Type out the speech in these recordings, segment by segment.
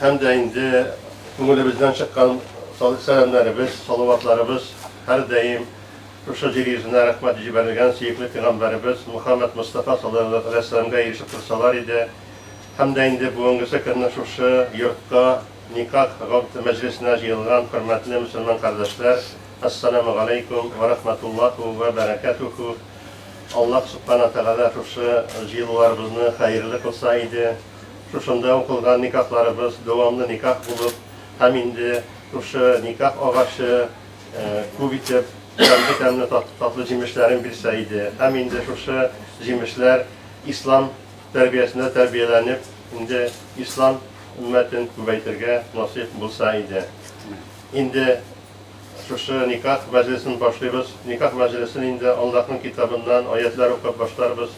Һәм дә инде күңелебездән чыккан сәламнәребез, салаватларыбыз һәрдаим шушы җир йөзенә рәхмәт җибәрелгән сөекле пигамбәребез Мөхәммәд Мостафа салаллаһу галәйһи вәссәламгә ирешеп торсалар иде. Һәм дә инде бүгенгесе көнне шушы йортка никах гакъд мәҗлесенә җыелган хөрмәтле мөселман кардәшләр, Әссәламү галәйкүм вә рәхмәтуллаһу вә бәрәкәтүһү! Аллаһ Субхана Тәгалә шушы җыелуларыбызны хәерле кылса иде! Шушында укылган никахларыбыз дәвамлы никах булып һәм инде шушы никах агачы күп итеп тәмле-тәмле татлы җимешләрен бирсә иде. Һәм инде шушы җимешләр ислам тәрбиясендә тәрбияләнеп, инде ислам өммәтен күбәйтергә насыйп булса иде. Инде шушы никах мәҗлесен башлыйбыз. Никах мәҗлесен инде Аллаһның китабыннан аятьләр укып башларбыз.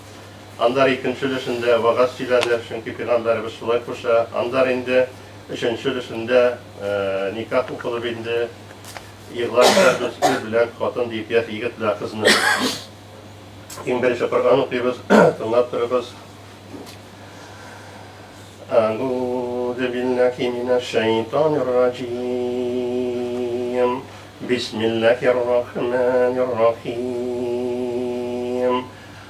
Аннары икенче өлешендә вәгазь сөйләдек, чөнки пигамбәребез шулай куша. Аннары инде өченче өлешендә никах укылып инде игълан итәбез, ир белән хатын диеп, яки егет белән кызны. Иң беренче Коръән укыйбыз, тыңлап торыгыз. Әгүзу биллахи минәш шәйтанир раҗим. Бисмиллахир рахманир рахим.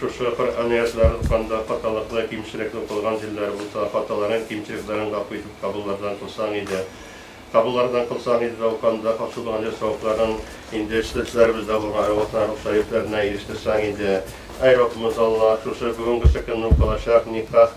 Шушы Коръән аятларын укыганда хаталыклы, кимчелекле укылган җирләре булса, хаталарын, кимчелекләрен гафу итеп кабуллардан кылсаң иде. Кабуллардан кылсаң иде дә укыганда хасил булган җир савапларын инде чтесләребездә булган Айлыклар рухы шәрифләренә ирештерсәң иде. Әй Раббымыз Аллаһ, шушы бүгенге секундны укылачак никах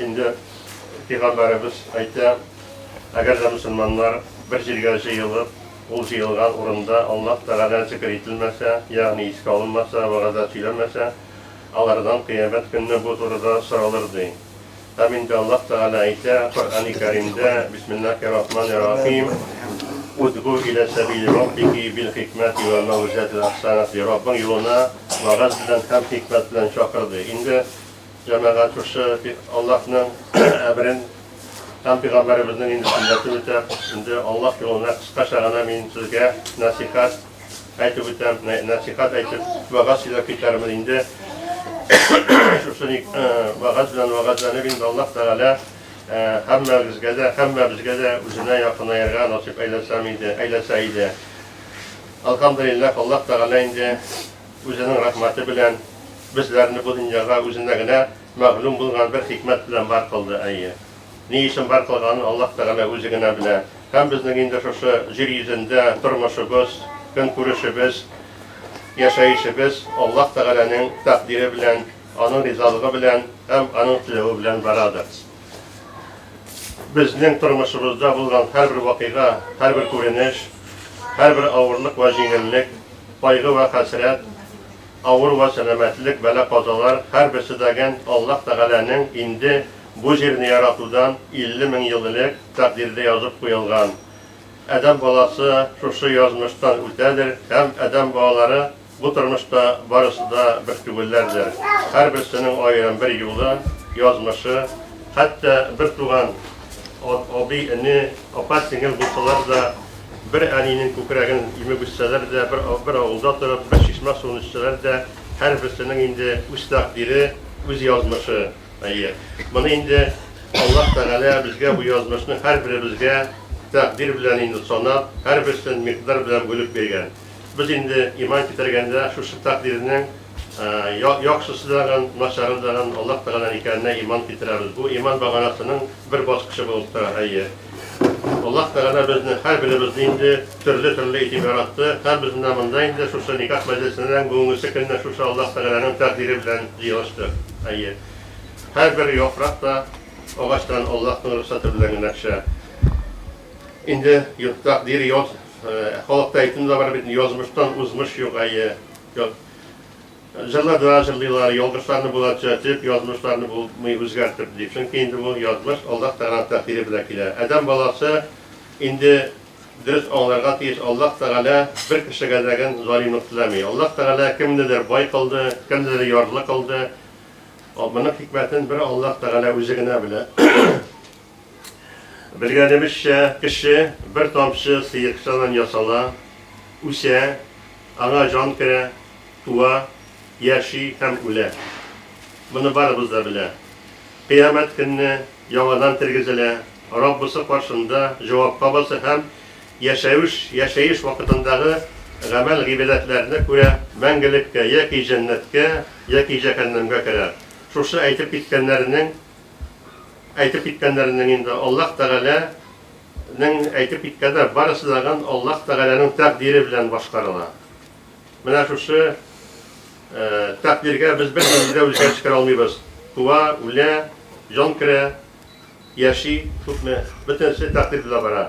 Инде пигамбәребез әйтә, әгәр дә мөселманнар бер җиргә җыелып, ул җыелган урында Аллаһ Тәгалә зикер ителмәсә, ягъни искә алынмаса, вәгазә сөйләмәсә, алардан кыямәт көнне бу турыда соралыр, ди. Һәм инде Аллаһ Тәгалә әйтә Коръәни Кәримдә, Бисмиллаһи рахмани рахим, Удгу илә сәбили Раббики бил хикмәти вәл мәүгизәтил әхсәнәти, Раббың юлына Вәгазь белән һәм хикмәт белән чакырды. Инде җәмәгать шушы Аллаһның әмерен һәм пәйгамбәребезнең инде сөннәтен үтәп, инде Аллаһ юлына кыскача гына мин сезгә нәсихәт әйтеп үтәм, нәсихәт әйтеп, вәгазь сөйләп китәрмен инде. Шушы ник вәгазь белән вәгазьләнеп инде Аллаһ Тәгалә һәммәгезгә дә, һәммәбезгә дә үзенә якынаерга насыйп әйләсәм иде, әйләсә иде. Әлхәмдүлилләһ, Аллаһ Тәгалә инде Үзенең рәхмәте белән безләрне бу дөньяга Үзенә генә мәгълүм булган бер хикмәт белән бар кылды, әйе. Ни өчен бар кылганын Аллаһ Тәгалә Үзе генә белә. Һәм безнең инде шушы җир йөзендә тормышыбыз, көнкүрешебез, яшәешебез Аллаһ Тәгаләнең тәкъдире белән, Аның ризалыгы белән һәм Аның теләве белән барадыр. Безнең тормышыбызда булган һәрбер вакыйга, һәрбер күренеш, һәрбер авырлык вә җиңеллек, кайгы вә хәсрәт, авыру вә сәламәтлек, бәла-казалар, һәрберсе дәген Аллаһ Тәгаләнең инде бу җирне яратудан 50 мең ел элек тәкъдирдә язып куелган. Адәм баласы шушы язмыштан үтәдер һәм адәм балалары Бу тормышта барысы да бер түгелләрдер, һәрберсенең аерым бер юлы, язмышы, хәтта бер туган абый-эне, апа-сеңел булсалар да, бер әнинең күкрәген имеп үссәләр дә, бер авылда торып, бер чишмә суын эчсәләр дә, һәрберсенең инде үз тәкъдире, үз язмышы. Әйе, моны инде Аллаһ Тәгалә безгә бу язмышны һәрберебезгә тәкъдир белән инде санап, һәрберсен микъдар белән бүлеп биргән. Без инде иман китергәндә шушы тәкъдирнең яхшысы дагын, начары дагын Аллаһ Тәгаләнең икәненә иман китерәбез. Бу иман баганасының бер баскычы булып тора. Әйе, Аллаһ Тәгалә безне һәрберебезне инде төрле-төрле итеп яратты. Һәрбез менә монда инде шушы никах мәҗлесенең бүгенгесе көнне шушы Аллаһ Тәгаләнең тәкъдире белән җыелыштык. Әйе, һәрбер яфрак та агачтан Аллаһның рөхсәте белән генә төшә. Инде тәкъдир Халыкта әйтем дә бар бит, язмыштан узмыш юк, әйе. Җырны да җырлыйлар, ялгышларны була төзәтеп, язмышларны булмый үзгәртеп, дип. Чөнки инде бу язмыш Аллаһ Тәгалә тәкъдире белән килә. Адәм баласы инде дөрес аңларга тиеш, Аллаһ Тәгалә бер кешегә дә гел залимлык теләми. Аллаһ Тәгалә кемнедер бай кылды, кемнедер ярлы кылды. Моның хикмәтен бер Аллаһ Тәгалә үзе генә белә. Белгәнебезчә, кеше бер тамчы сыекчадан ясала, үсә, аңа җан керә, туа, яши һәм үлә. Моны барыбыз да белә. Кыямәт көнне яңадан тергезелә, Раббысы каршында җавапка баса һәм яшәвеш, яшәеш вакытындагы гамәл-гыйбадәтләренә күрә мәңгелеккә, яки җәннәткә, яки җәһәннәмгә керә. Шушы әйтеп киткәннәренең. әйтеп киткәннәренең инде Аллаһ Тәгаләнең әйтеп киткәннәр барысы дагын Аллаһ Тәгаләнең тәкъдире белән башкарыла. Менә шушы тәкъдиргә без бернинди дә үзгәреш керә алмыйбыз. Туа, үлә, җан керә, яши, күпме, бөтенесе тәкъдир белән бара.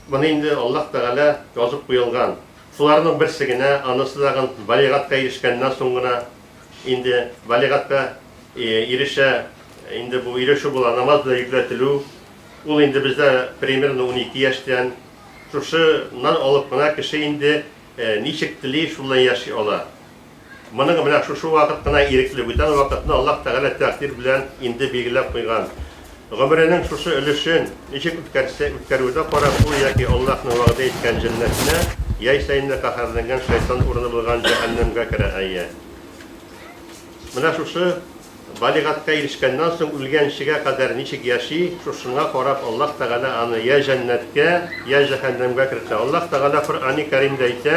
Моны инде Аллаһ Тәгалә язып куелган. Шуларның берсе генә, анысы дагын балигатькә ирешкәннән соң гына Инде балигатькә ирешә, инде бу ирешү була, намаз белән йөкләтелү. Ул инде бездә примерно унике яшьтән. Шушыннан алып кына кеше инде ничек тели, шул белән яши ала. Моның менә шушы вакыт кына ирекле, бүтән вакытны Аллаһ Тәгалә тәкъдир белән инде билгеләп куйган. Гомеренең шушы өлешен ничек үткәрсә, үткәрүдә карап, ул яки Аллаһның вәгъдә иткән җәннәтенә, яисә инде каһәрләнгән шайтан урыны булган җәһәннәмгә керә әйе. Менә шушы балигатькә ирешкәннән соң үлгәнчегә кадәр ничек яши, шушыңа карап Аллаһ Тәгалә аны йә җәннәткә, йә җәһәннәмгә кертә. Аллаһ Тәгалә Коръәни Кәримдә әйтә.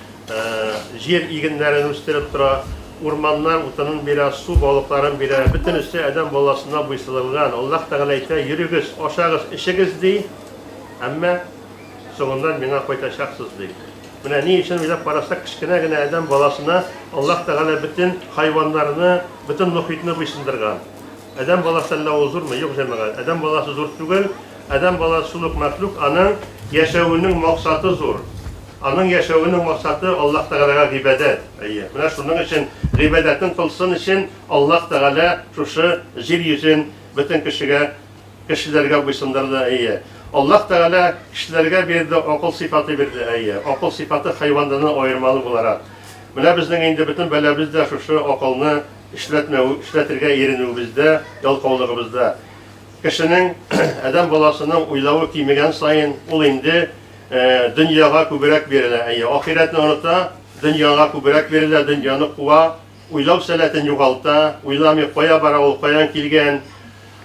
Җир игеннәрен үстереп тора, урманнар утынын бирә, су балыкларын бирә. Бөтенесе адәм баласына буйсынылган. Аллаһ Тәгалә әйтә, Йөрегез, ашагыз, эчегез, ди, әмма соңыннан миңа кайтачаксыз, ди. Менә ни өчен уйлап карасак, кечкенә генә адәм баласына Аллаһ Тәгалә бөтен хайваннарны, бөтен мохитне буйсындырган. Адәм баласы әллә ул зурмы? Юк, җәмәгать, адәм баласы зур түгел. Адәм баласы шул ук мәхлук, аның яшәвенең максаты зур. Аның яшәвенең максаты Аллаһ Тәгаләгә гыйбадәт. Әйе, менә шуның өчен гыйбадәтен кылсын өчен Аллаһ Тәгалә шушы җир йөзен бөтен кешегә, кешеләргә буйсындырды. Әйе, Аллаһ Тәгалә кешеләргә бирде, акыл сыйфаты бирде. Әйе, акыл сыйфаты хайваннардан аермалы буларак. Менә безнең инде бөтен бәлабез дә шушы акылны, Эшләтмәү, эшләтергә иренүебездә, ялкаулыгыбызда. Кешенең, адәм баласының уйлавы кимегән саен, ул инде дөньяга күбрәк бирелә, әйе, ахирәтне оныта, дөньяга күбрәк бирелә, дөньяны куа, уйлау сәләтен югалта, уйламый, кая бара ул, каян килгән,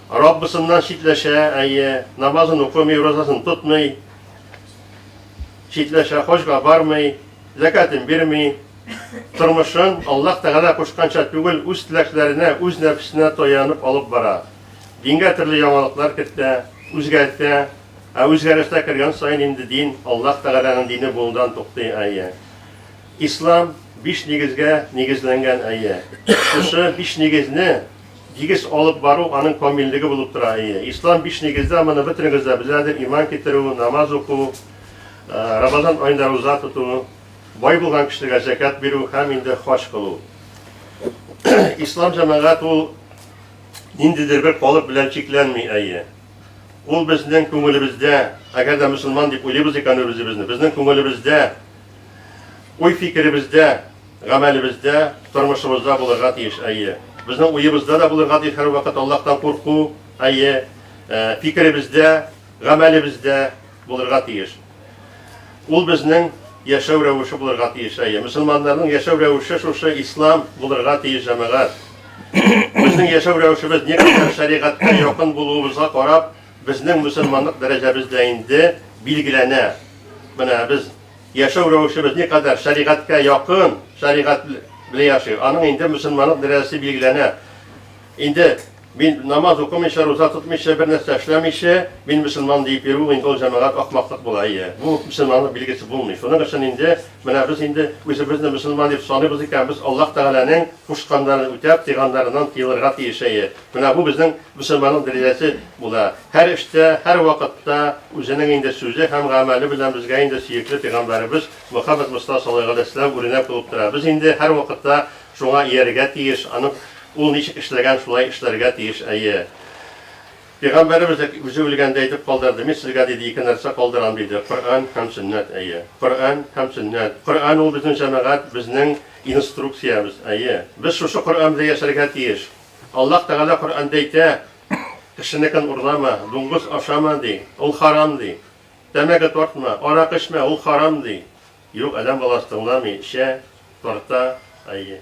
Раббысыннан читләшә, әйе, намазын укымый, уразасын тотмый, читләшә, хаҗга бармый, зәкятен бирми. тормышын Аллаһ Тәгалә кушканча түгел, үз теләкләренә, үз нәфесенә таянып алып бара. Дингә төрле яңалыклар кертә, үзгәртә, ә үзгәрештә кергән саен инде дин, Аллаһ Тәгаләнең дине булудан туктый, әйе. Ислам биш нигезгә нигезләнгән, әйе. Шушы биш нигезне дигез алып бару аның камиллеге булып тора, әйе. Ислам биш нигездә, моны бөтенегез дә беләдер, иман китерү, намаз уку, Рамазан аенда руза тоту, бай булган кешегә зәкят бирү һәм инде хаҗ кылу. Ислам җәмәгать ул ниндидер бер калып белән чикләнми, әйе. Ул безнең күңелебездә, әгәр дә мөселман дип уйлыйбыз икән үзебезне, безнең күңелебездә, уй-фикеребездә, гамәлебездә, тормышыбызда булырга тиеш, әйе. Безнең уебызда да булырга тиеш һәрвакыт Аллаһтан курку, әйе, фикеребездә, гамәлебездә, Булырга тиеш. Ул безнең яшәү рәвеше булырга тиеш. Әйе, мөселманнарның яшәү рәвеше шушы ислам булырга тиеш, җәмәгать. Безнең яшәү рәвешебез никадәр шәригатькә якын булуыбызга карап, безнең мөселманлык дәрәҗәбез дә инде билгеләнә. Менә без яшәү рәвешебез никадәр шәригатькә якын, шәригать белән яши, аның инде мөселманлык дәрәҗәсе билгеләнә. Инде мин намаз укымыйча, руза тотмыйча, бер нәрсә эшләмичә, мин мөселман диеп йөрү, инде ул җәмәгать ахмаклык була, әйе. Бу мөселманлык билгесе булмый. Шуның өчен инде менә без инде үзебезне мөселман дип саныйбыз икән, без Аллаһ Тәгаләнең кушканнарын үтәп, тыйганнарыннан тыелырга тиеш, әйе. Менә бу безнең мөселманның дәрәҗәсе була. Һәр эштә, һәр вакытта үзенең инде сүзе һәм гамәле белән безгә инде сөекле пәйгамбәребез Мөхәммәд Мостафа салләһу галәйһи вә сәлләм үрнәк булып тора. Без инде һәрвакытта Шуңа иярергә тиеш, аның ул ничек эшләгән, шулай эшләргә тиеш, әйе. Пигамбәребез дә үзе үлгәндә әйтеп калдырды, мин сезгә, диде, ике нәрсә калдырам, диде, Коръән һәм сөннәт, әйе. Коръән һәм сөннәт. Коръән ул безнең җәмәгать, безнең инструкциябез, әйе. Без шушы Коръән белән яшәргә тиеш. Аллаһ Тәгалә Коръәндә әйтә, Кешенекен урлама, дуңгыз ашама, ди, ул харам, ди. Тәмәке тартма, аракы эчмә, ул харам, ди. Юк, адәм баласы тыңламый, эчә, тарта, әйе.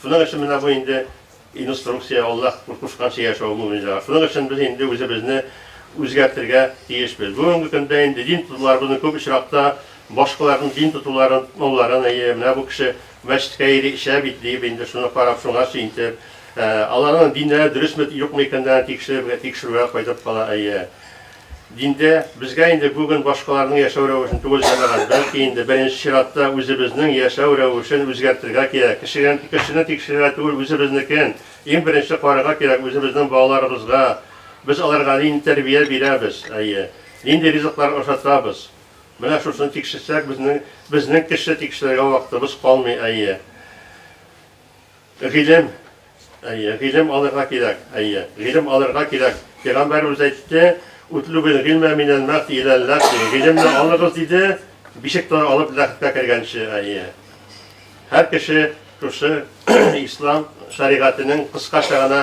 Шуның өчен менә бу инде инструкция, Аллаһ кушканча яшәү мөэминнәргә. Шуның өчен без инде үзебезне үзгәртергә тиешбез. Бүгенге көндә инде дин тотуларыбызны күп очракта башкаларның дин тотуларын, тыңлауларын, әйе, менә бу кеше мәчеткә йөри, эчә бит, дип инде шуны карап, шуңа сөентеп, аларның диннәре дөресме, юкмы икәнлеген тикшерергә, тикшерүгә кайтып кала, әйе. Диндә безгә инде бүген башкаларның яшәү рәвешен түгел җәмәгать, бәлки инде беренче чиратта үзебезнең яшәү рәвешен үзгәртергә кирәк. Кешегә, кешене тикшерергә түгел, үзебезнекен иң беренче карарга кирәк, үзебезнең балаларыбызга без аларга нинди тәрбия бирәбез, әйе, нинди ризыклар ашатабыз. Менә шушыны тикшерсәк, безнең, безнең кеше тикшерергә вакытыбыз калмый, әйе. Гыйлем, әйе, гыйлем алырга кирәк, әйе, гыйлем алырга кирәк. Пәйгамбәребез әйтте, Утлубил гыйльмә минәл мәхди иләл ләхди, гыйлемне алыгыз, диде, бишек тора алып ләхеткә кергәнче, әйе. Һәр кеше шушы ислам шәригатенең кыскача гына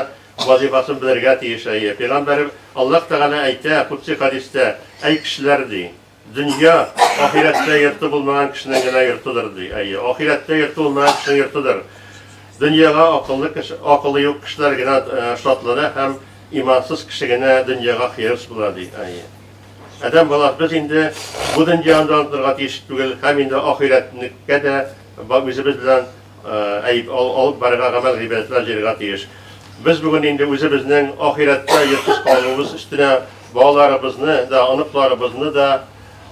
вазифасын белергә тиеш, әйе. Пәйгамбәребез Аллаһ Тәгалә әйтә, кудси хәдистә, Әй кешеләр, ди. Дөнья, ахирәттә йорты булмаган кешенең генә йортыдыр, ди. Әйе, ахирәттә йорты булмаган кешенең йортыдыр. Дөньяга акыллы кеше, акылы юк кешеләр генә э, шатлана һәм имансыз кеше генә дөньяга хирыс була, ди. Әйе. Адәм баласы без инде бу дөньяны да онытырга тиеш түгел һәм инде ахирәтнеккә дә үзебез белән Әй, ал, алып барырга гамәл гыйбадәтләр җыярга тиеш. Без бүген инде үзебезнең ахирәттә йортсыз калуыбыз өстенә балаларыбызны да, оныкларыбызны да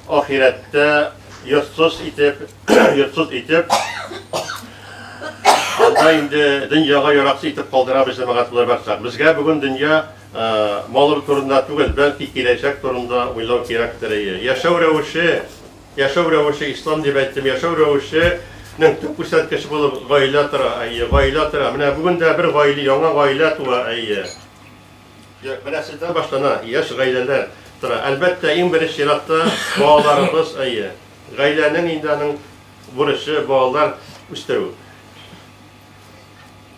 ахирәттә йортсыз итеп, йортсыз итеп, анда инде дөньяга яраксыз итеп калдырабыз җәмәгать булып барсак. Безгә бүген дөнья малыр турында түгел, бәлки киләчәк турында уйлау кирәктер. Яшәү рәвеше Яшәү рәвеше, ислам дип әйттем, яшәү рәвеше нең төп күрсәткече булып гаилә тора, әйе, гаилә тора. Менә бүген дә бер гаиле, яңа гаилә туа, әйе. Менә сездән башлана, яшь гаиләләр тора. Әлбәттә, иң беренче чиратта балаларыбыз, әйе. Гаиләнең инде аның бурычы, балалар үстерү.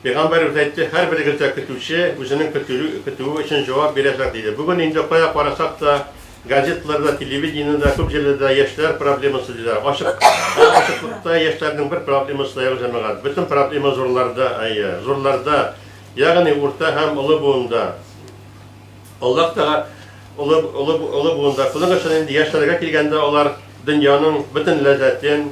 Пәйгамбәребез әйтте, Һәрберегез дә көтүче, үзенең көтүе өчен җавап бирәчәк, диде. Бүген инде кая карасак та, газеталарда, телевидениедә, күп җирләрдә яшьләр проблемасы диләр. Ачык, ә ачыклыкта яшьләрнең бер проблемасы да юк, җәмәгать. Бөтен проблема зурларда, әйе, зурларда, ягъни урта һәм олы буында. Аллаһ Тәга, олы, олы, олы буында. Шуның өчен инде яшьләргә килгәндә, алар дөньяның бөтен ләззәтен,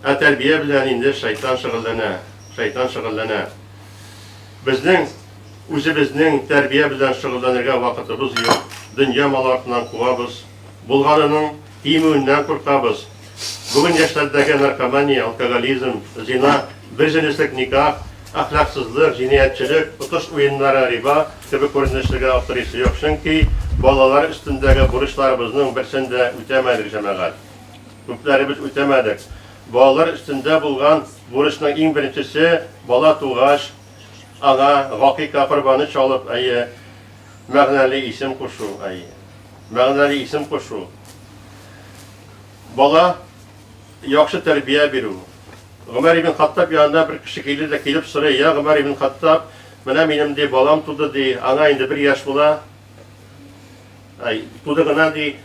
Ә тәрбия белән инде шайтан шөгыльләнә, шайтан шөгыльләнә. Безнең үзебезнең тәрбия белән шөгыльләнергә вакытыбыз юк. Дөнья малы артыннан куабыз, булганының тимүеннән куркабыз. Бүген яшьләрдәге наркомания, алкоголизм, зина, берҗенеслек никах, әхлаксызлык, җинаятьчелек, отыш уеннары, риба кебек күренешләргә аптырыйсы юк, чөнки балалар өстендәге бурычларыбызның берсен дә үтәмәдек, җәмәгать. Күпләребез үтәмәдек. Балалар өстендә булган бурычның иң беренчесе, бала тугач, аңа гакыйка корбаны чалып, әйе, мәгънәле исем кушу, әйе, мәгънәле исем кушу. Бала яхшы тәрбия бирү. Гомәр ибн Хаттаб янына бер кеше килде дә килеп сорый, я Гомәр ибн Хаттаб, менә минем ди балам туды ди, аңа инде бер яшь була. Әй, туды гына, ди.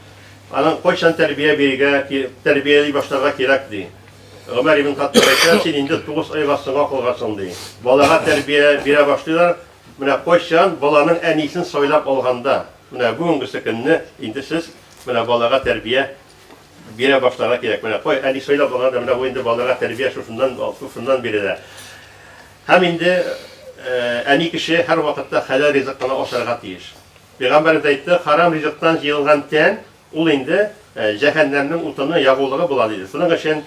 Аның кайчан тәрбия бирергә, тәрбияли башларга кирәк, ди. Гомәр ибн Хаттаб әйтә, син инде 9 айга соңга калгансың, ди. Балага тәрбия бирә башлыйлар, менә кайчан баланың әнисен сайлап алганда, менә бүгенгесе көнне инде сез менә балага тәрбия бирә башларга кирәк. Менә кой әни сайлап алганда менә бу инде балага тәрбия шушыннан шушыннан бирелә. Һәм инде әни кеше һәрвакытта хәләл ризык кына ашарга тиеш. Пәйгамбәребез әйтте, Харам ризыктан җыелган тән, ул инде җәһәннәмнең утыны, ягулыгы була, диде. Шуның өчен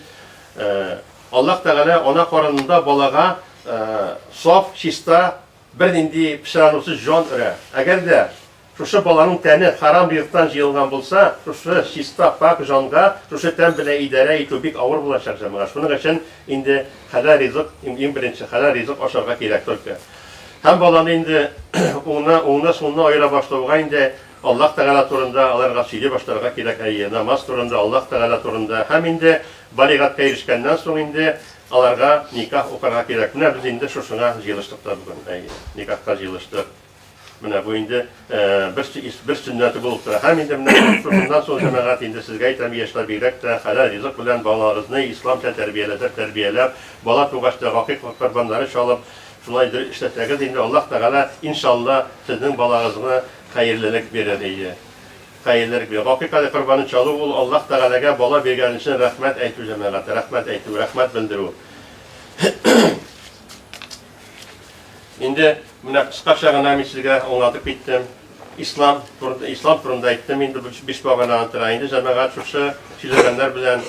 Аллаһ Тәгалә ана карынында балага саф, чиста, бернинди пычранусыз җан өрә. Әгәр дә шушы баланың тәне харам ризыктан җыелган булса, шушы чиста, пакь җанга шушы тән белән идарә итү бик авыр булачак, җәмәгать. Шуның өчен инде хәләл ризык, иң беренче хәләл ризык ашарга кирәк только. Һәм баланы инде уңны, уңны сулны аера башлауга инде Аллаһ Тәгалә турында аларга сөйли башларга кирәк, әйе, намаз турында, Аллаһ Тәгалә турында. Һәм инде балигатькә ирешкәннән соң инде аларга никах укырга кирәк. Менә без инде шушыңа җыелыштык та бүген, әйе, никахка җыелыштык. Менә бу инде. бер сөннәте булып тора. Һәм инде менә шуннан соң, җәмәгать, инде сезгә әйтәм, яшьләр бигрәк тә хәләл ризык белән балагызны исламча тәрбияләсәк, тәрбияләп, бала тугач та гакыйк корбаннары чалып, шулай дөрес эшләсәгез, инде Аллаһ Тәгалә, иншалла, сезнең балагызга хәерлелек бирер иде. Хәерлелек бирер. Гакыйк әле корбанын чалу ул Аллаһ Тәгаләгә бала биргән өчен рәхмәт әйтү, җәмәгать, рәхмәт әйтү, рәхмәт белдерү. Инде менә кыскача гына мин сезгә аңлатып киттем. Ислам, ислам турында әйттем инде биш баганага тора. Инде җәмәгать шушы сөйләгәннәр белән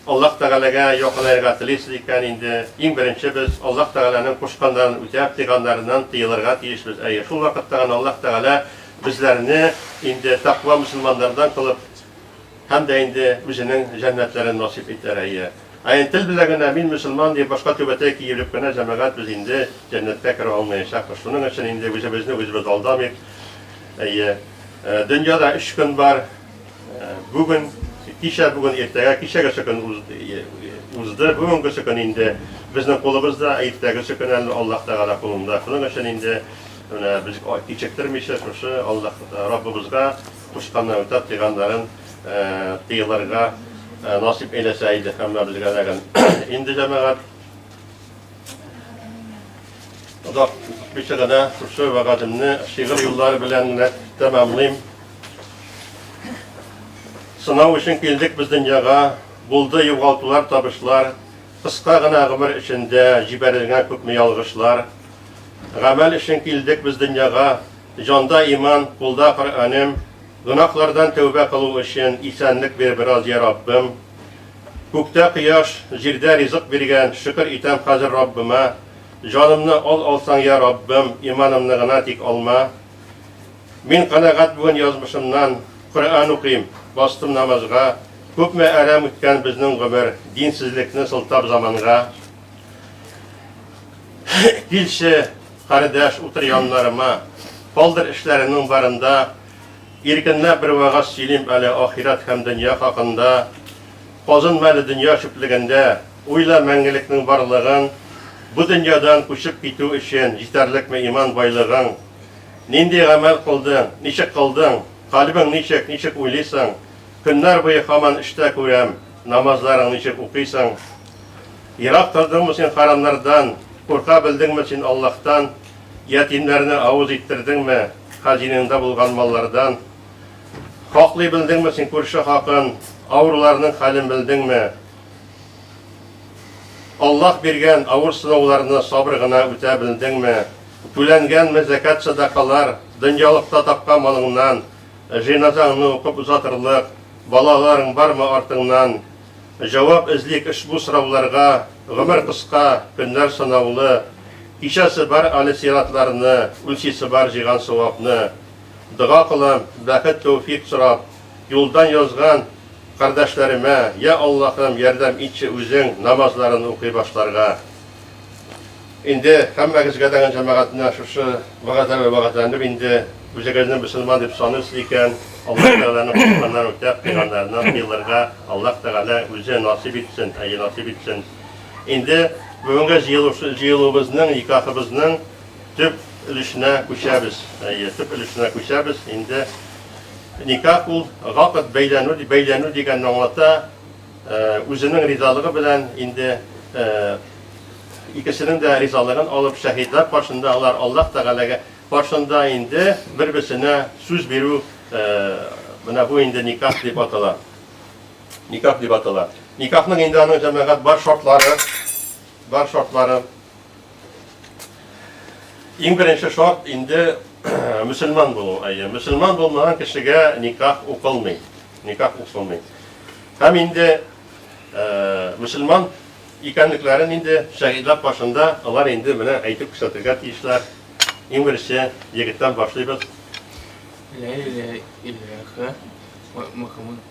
Аллаһ Тәгаләгә якынаерга телисез икән, инде иң беренче без Аллаһ Тәгаләнең кушканнарын үтәп, тыйганнарыннан тыелырга тиешбез. Әйе, шул вакытта гына Аллаһ Тәгалә безләрне инде таква мусульманнардан кылып һәм дә инде үзенең җәннәтләрен насыйп итәр. Әйе. Ә инде тел белә генә, мин мөселман диеп, башка түбәтәй киереп кенә җәмәгать без инде җәннәткә керә алмаячакбыз. Шуның өчен инде үзебезне үзебез алдамыйк. Әйе, дөньяда өч көн бар, бүген, кичә, бүген, иртәгә, кичәгесе көн узды, бүгенгесе көн инде безнең кулыбызда, ә иртәгесе көн әле Аллаһ Тәгалә кулында. Шуның өчен инде менә без кичектермичә шушы Аллаһ Раббыбызга Кушканны үтәп, тыйганнарын тыелырга насип әйләсә иде һәммә белгәннәрен. Инде җәмәгать озак үтмичә генә шушы вәгадемне шигырь юллары белән генә тәмамлыйм. Сынау өчен килдек без дөньяга, булды югалтулар, табышлар, кыска гына гомер эчендә җибәрелгән күпме ялгышлар. Гамәл өчен килдек без дөньяга, Җанда иман, кулда Коръәнем, Гөнаһлардан тәүбә кылу өчен Исәнлек бир бераз, йә Раббым. Күктә кояш, җирдә ризык биргән, Шөкер итәм хәзер Раббыма. Җанымны ал алсаң, йә Раббым, Иманымны гына тик алма. Мин канәгать бүген язмышымнан, Коръән укыйм, бастым намазга. Күпме әрәм үткән безнең гомер, Динсезлекне сылтап заманга. Килче. Кардәш, утыр яннарыма. Калдыр эшләреңнең барын да. Иркенләп бер вәгазь сөйлим әле ахирәт һәм дөнья хакында. Казынма әле дөнья чүплегендә. Уйла мәңгелекнең барлыгын. Бу дөньядан күчеп китү өчен җитәрлекме иман байлыгың? Нинди гамәл кылдың? Ничек кылдың? Калбең ничек, ничек уйлыйсың? Көннәр буе хаман эштә күрәм, намазларың ничек укыйсың? Ерак тордыңмы син харамнардан, Курка белдеңме син Аллаһтан? Ятимнәрне авыз иттердеңме, Хазинаңда булган маллардан? Хаклый белдеңме син күрше хакын, Авыруларның хәлен белдеңме? Аллаһ биргән авыр сынауларны Сабыр гына үтә белдеңме? Түләнгәнме зәкәт садакалар, Дөньялыкта тапкан малыңнан? Җеназаңны укып озатырлык, Балаларың бармы артыңнан? Җавап эзлик ошбу сорауларга Гомер кыска, көннәр санаулы Кичәсе бар әле сиратларны Үлчисе бар җыйган савапны Дога кылам, бәхет тәүфик сорап Юлдан язган кардәшләремә Йә Аллаһым, ярдәм итче үзең Намазларын укый башларга. Инде һәммәгезгә дә җәмәгатенә шушы вәгазәләр вәгазәләнеп инде үзегезне мөселман дип саныйсыз икән, Аллаһ Тәгаләнең кушканнар үтә кыйганнарына тыелырга Аллаһ Тәгалә үзе насыйп итсен, әйе насыйп итсен. Инде бүгенге җыелуыбызның, никахыбызның төп өлешенә күчәбез. Әйе, төп өлешенә күчәбез. Инде никах ул гакыт бәйләнү, бәйләнү дигәнне аңлата. Үзенең ризалыгы белән инде икесенең дә ризалыгын алып, шәһидләр каршында алар Аллаһ Тәгаләгә каршында инде бер-берсенә сүз бирү, менә бу инде никах дип атала. Никах дип атала. Никахның инде аның җәмәгать бар шартлары, бар шартлары. Иң беренче шарт инде мөселман булу. Әйе, мөселман булмаган кешегә никах укылмый. Никах укылмый. Һәм инде э, мөселман икәнлекләрен инде шәһидләп башында алар инде менә әйтеп күрсәтергә тиешләр. Иң беренче егеттән башлыйбыз. Ла иляха ва Мухаммад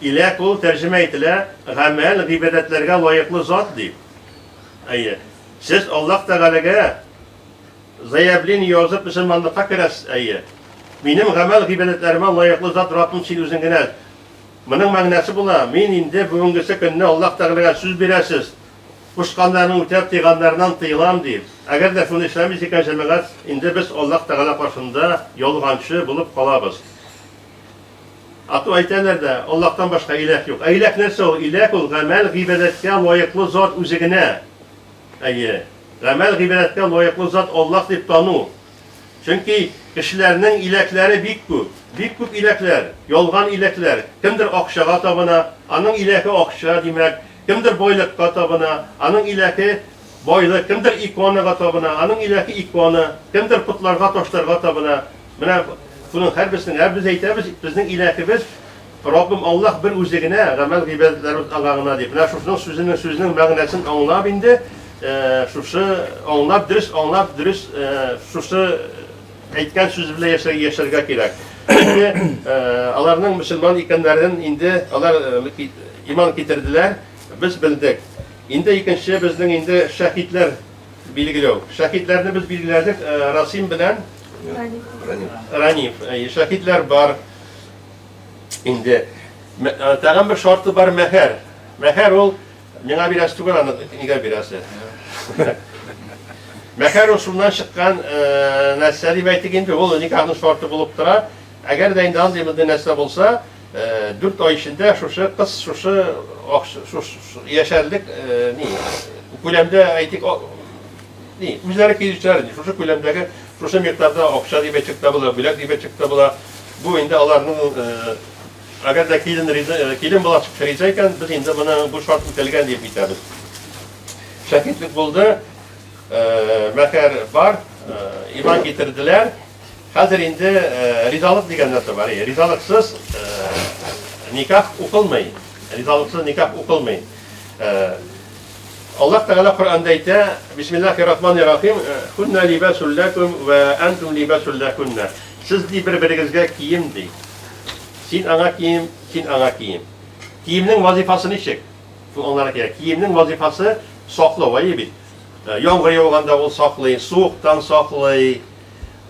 Илә кул тәрҗемә ителә гамәл, гыйбадәтләргә лаеклы зат дип. Әйе. Сез Аллаһ Тәгаләгә заявление язып мөселманлыкка керәсез, әйе. Минем гамәл, гыйбадәтләремә лаеклы зат Раббым син үзең генә. Моның мәгънәсе була, мин инде бүгенгесе көнне Аллаһ Тәгаләгә сүз бирәсез, кушканнарын үтәп, тыйганнарыннан тыелам дип. Әгәр дә шуны эшләмис икән җәмәгать, инде без Аллаһ Тәгалә каршында ялганчы булып калабыз. А то әйтәләр дә, Аллаһтан башка иләһ юк. Ә иләһ нәрсә ул? Иләһ ул, гамәл, гыйбадәткә лаеклы зат үзе генә. Әйе. Гамәл, гыйбадәткә лаеклы зат Аллаһ дип тану. Чөнки кешеләрнең иләһләре бик күп. Бик күп иләһләр, ялган иләһләр. Кемдер акчага табына, аның иләһе акча, димәк. Кемдер байлыкка табына, аның иләһе, байлык, кемдер иконага табына, аның иләһе, икона, кемдер потларга, ташларга табына. Менә шуның һәрберсенең, ә без әйтәбез, безнең иләһебез Раббым Аллаһ бер үзе генә, гамәл гыйбадәтләребез аңа гына дип. Менә шушының сүзенең сүзенең мәгънәсен аңлап инде, шушы аңлап, дөрес аңлап, дөрес шушы Әйткән сүзе белән яшәр, яшәргә кирәк. Инде э, аларның мөселман икәннәрен инде алар э, ки- иман китерделәр, без белдек. Инде икенче безнең инде шәһитләр билгеләү. Шәһитләрне без билгеләдек э, Расим белән Раниф. Э, Шәһитләр бар. Инде Мә- э, тагын бер шарты бар мәһәр. Мәһәр ул Миңа бирәсе түгел аны, нигә бирәсе? Мәхәр ошуннан чыккан нәрсә дип әйтик инде, ул никахның шарты булып тора. Әгәр дә инде андый мондый нәрсә булса, 4 ай эчендә шушы кыз шушы яшәрлек ни күләмдә әйтик ни үзләре килүчеләр ни шушы күләмдәге шушы микъдарда акча дип әйтсәк тә була, бүләк дип әйтсәк тә була. Бу инде аларның Әгәр дә килен риза, э, килен бала чыкса риза икән, без инде моны бу шарт үтәлгән дип әйтәбез. Шәһидлек булды, э, мәһәр бар, э, иман китерделәр. Хәзер инде ризалык дигән нәрсә бар. Ризалыксыз никах укылмый. Ризалыксыз никах укылмый. Аллаһ Тәгалә Коръәндә әйтә, Бисмиллахир Рахманир Рахим, "Хунна либасул лакум ва антум либасул лакунна". Сез ди бер-берегезгә кием ди. Син аңа кием, син аңа кием. Киемнең вазыйфасы ничек? Шул аңларга кирәк. Киемнең вазыйфасы саклау, әйе бит. Яңгыр яуганда ул саклый, суыктан саклый,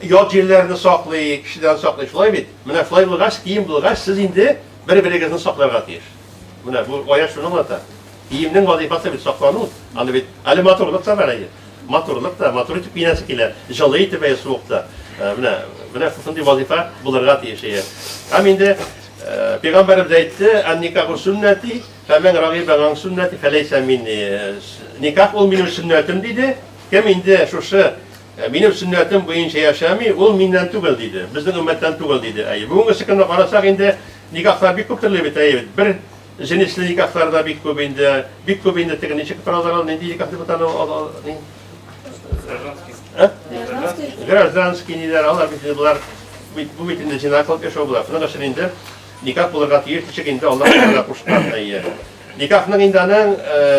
ят җирләрне саклый, кешедән саклый, шулай бит? Менә шулай булгач, кием булгач, сез инде бер-берегезне сакларга тиеш. Менә бу аят шуны аңлата. Киемнең вазифасы бит саклану. Аны бит әле матурлык та бар әле. Матурлык та, матур итеп киенәсе килә, җылы итеп әйе суыкта. Э, менә менә шушындый вазифа булырга тиеш әйе. Һәм инде э, пәйгамбәребез әйтте, "Ан-никаху суннати, фәмен рагиба ган суннати фәләйсә минни". Э, никах ул минем сөннәтем диде. Кем инде шушы Ә минем сөннәтем буенча яшәми, ул миннән түгел, диде. Безнең өммәттән түгел, диде. Әйе, бүгенгесе көнне карасак инде, никахлар бик күп төрле бит, әйе бит. Бер җенесле никахлар да бик күп инде. Бик күп инде теге ничек торалар ул, нинди никах дип атала ул, ул, ул, Гражданский. Гражданский ниләр, алар бит инде болар бит бу бит инде җинак кылып яшәү була. Шуның өчен инде никах булырга тиеш ничек инде Аллаһ Тәгалә кушкан, әйе. Никахның инде аның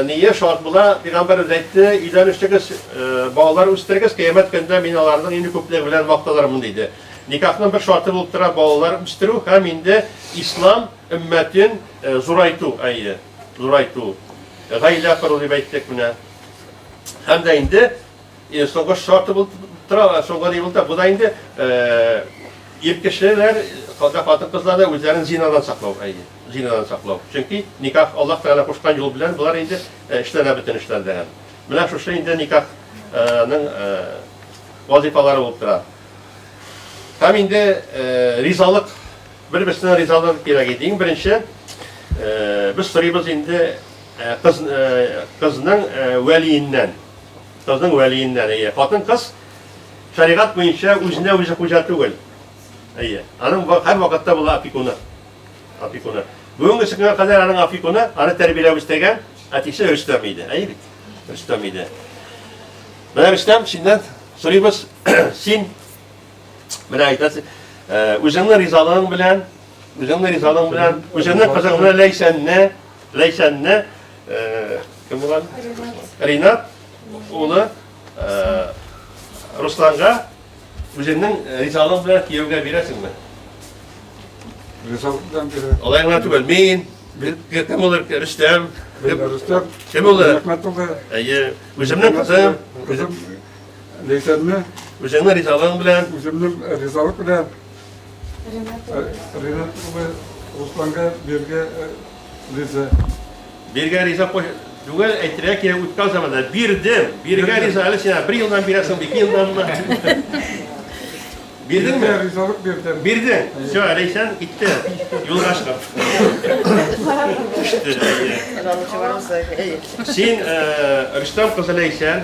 ние шарт була, пигамбәр үзе әйтте, өйләнешегез, балалар үстерегез, кыямәт көндә мин аларның ине күплеге белән макталырмын диде. Никахның бер шарты булып тора балалар үстерү һәм инде ислам өммәтен зурайту, әйе, зурайту. Гаилә кору дип әйттек менә. Һәм дә инде Э, соңгы шарты булып тора, э, соңгы ни булып тора. Бу да инде э, ир кешеләр, хәтта хатын-кызлар да үзләрен зинадан саклау, әйе, зинадан саклау. Чөнки никах Аллаһ Тәгалә кушкан юл белән болар инде эшләрә бөтен эшләр дигән. Менә шушы инде никахның вазифалары булып тора. Һәм инде ризалык, бер-берсенә ризалык кирәк иде. Иң беренче без сорыйбыз инде кыз кызның вәлиеннән Кызның вәлиеннән, әйе. Хатын-кыз шәригать буенча үзенә үзе хуҗа түгел. Әйе. Аның ба- һәрвакытта була опекуны. Опекуны. Бүгенге көнгә кадәр аның опекуны, аны тәрбияләп үстергән әтисе Рөстәм иде. Әйе бит? Рөстәм иде. Менә Рөстәм, синнән сорыйбыз, син менә әйтәсең, э, үзеңнең ризалыгың белән, үзеңнең ризалыгың белән, үзеңнең кызыңны Ләйсәнне Ләйсәнне кем булган? Ринат улы Русланга үзеңнең ризалыгың белән кияүгә бирәсеңме? Ризалык белән бирә. Алай гына түгел, мин кем булыр? Рөстәм. Рөстәм. Кем булыр? Рәхмәт улы. Әйе, үземнең кызым. Кызым Ләйсәнне. Үзеңнең ризалыгың белән. Үземнең ризалык белән. Ренат улы. Ренат улы Русланга биргә риза. Биргә риза түгел, әйтергә кирәк үткән заманда бирдем. Биргә риза әле сиңа бер елдан бирәсең, ике елданмы? Бирдеңме? Ризалык бирдем. Бирдең. Все, Ләйсән китте. Юлга чыгып. Син Рөстәм кызы Ләйсән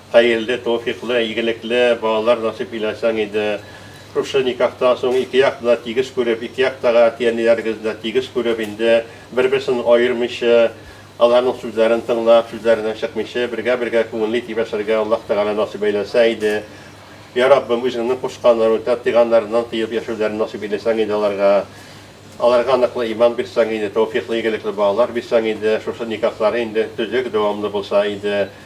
Хәерле, тәүфыйклы, игелекле балалар насыйп иләсәң иде. Шушы никахтан соң ике якны да тигез күреп, ике якта га әти-әниләрегезне дә тигез күреп, инде бер-берсен аермыйчы, аларның сүзләрен тыңлап, сүзләреннән чыкмыйчы, бергә-бергә күңелле итеп яшәргә Аллаһ Тәгалә насыйп әйләсә иде. Йә, Раббым, Үзеңнең кушканнарын үтәп, тыйганнарыннан тыеп яшәүләрен насыйп иләсәң иде аларга. Аларга ныклы иман бирсәң иде, тәүфыйклы, игелекле балалар бирсәң иде, шушы никахлары инде төзек, дәвамлы булса иде.